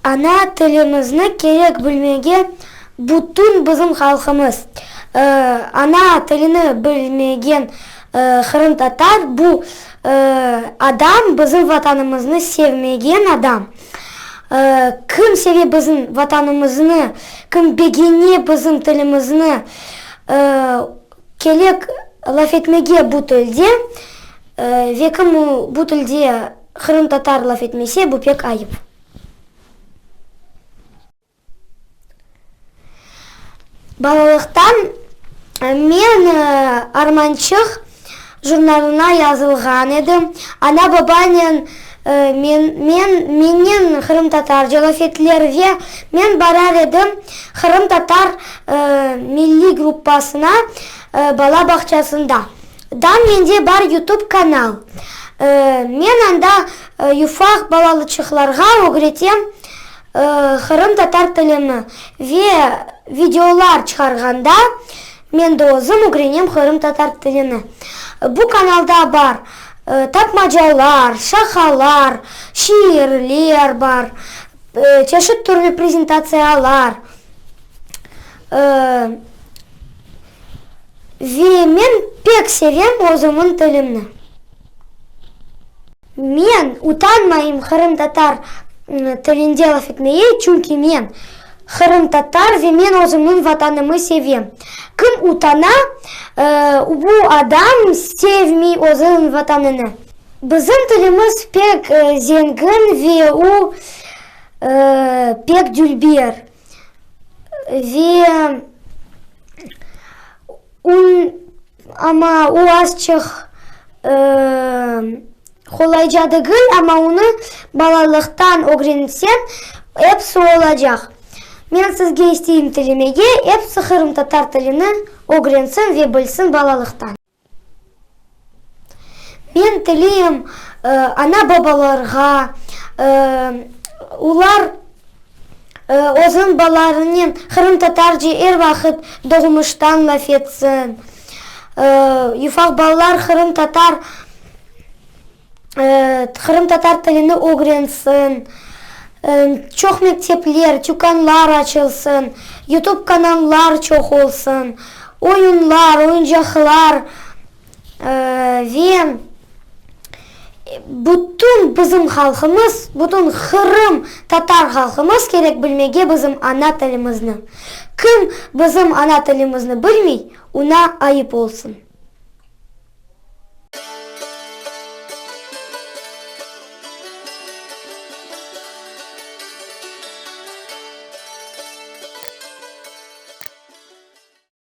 Ana tilimizni kerek bilmege bütün bizim halqımız. Ana tilini bilmegen qırımtatar bu adam bizim Vatanımıznı sevmegen adam. Kim seve bizim Vatanımıznı, kim begene bizim tilimizni, kelek laf etmege bu tilde, ve kim bu tilde qırımtatar laf etmese, bu pek ayıp. Balalıqtan men Armançıq jurnalına yazılğan edim. Ana-babanen men men mennen qırımtatarca laf ettiler ve men barar edim qırımtatar milliy gruppasına bala bağçasında. Dan mende bar yutub kanal. Men anda yufaq balalıçıqlarğa ögretem Qırımtatar tilini ve videolar çıqarğanda, men de özüm ögrenem qırımtatar tilini. Bu kanalda bar tapmacalar, şahalar, şiirler bar, çeşit türlü prezentatsiyalar. Ve men pek sevem özümniñ tilimni. Men utanmayım qırımtatar tilinde laf etmege, çünki men qırımtatar ve men özümniñ Vatanımı sevem. Kim utana, bu adam sevmiy özüñ Vatanını. Bizim tilimiz pek zengin ve o pek dülber ve ün Amma o azçıq qolayca degil, amma onı balalıqtan ögrenitseñ, episi olacaq. Men sizge isteyim tilemege, episi qırımtatar tilini ögrensin ve bilsin balalıqtan. Men tileyim ana-babalarğa, olar. Özüm balalarınen qırımtatarca er vaqıt doğmuştan laf etsin. Ufaq balalar qırımtatar qırımtatar tilini ögrensin. Çoq mektepler, tükânlar açılsın. Yutub kanallar çoq olsun. Oyunlar, oyuncaqlar. Ve bütün bizim halqımız, bütün Qırım tatar halqımız kerek bilmege bizim ana tilimizni. Kim bizim ana tilimizni bilmey, una ayıp olsun.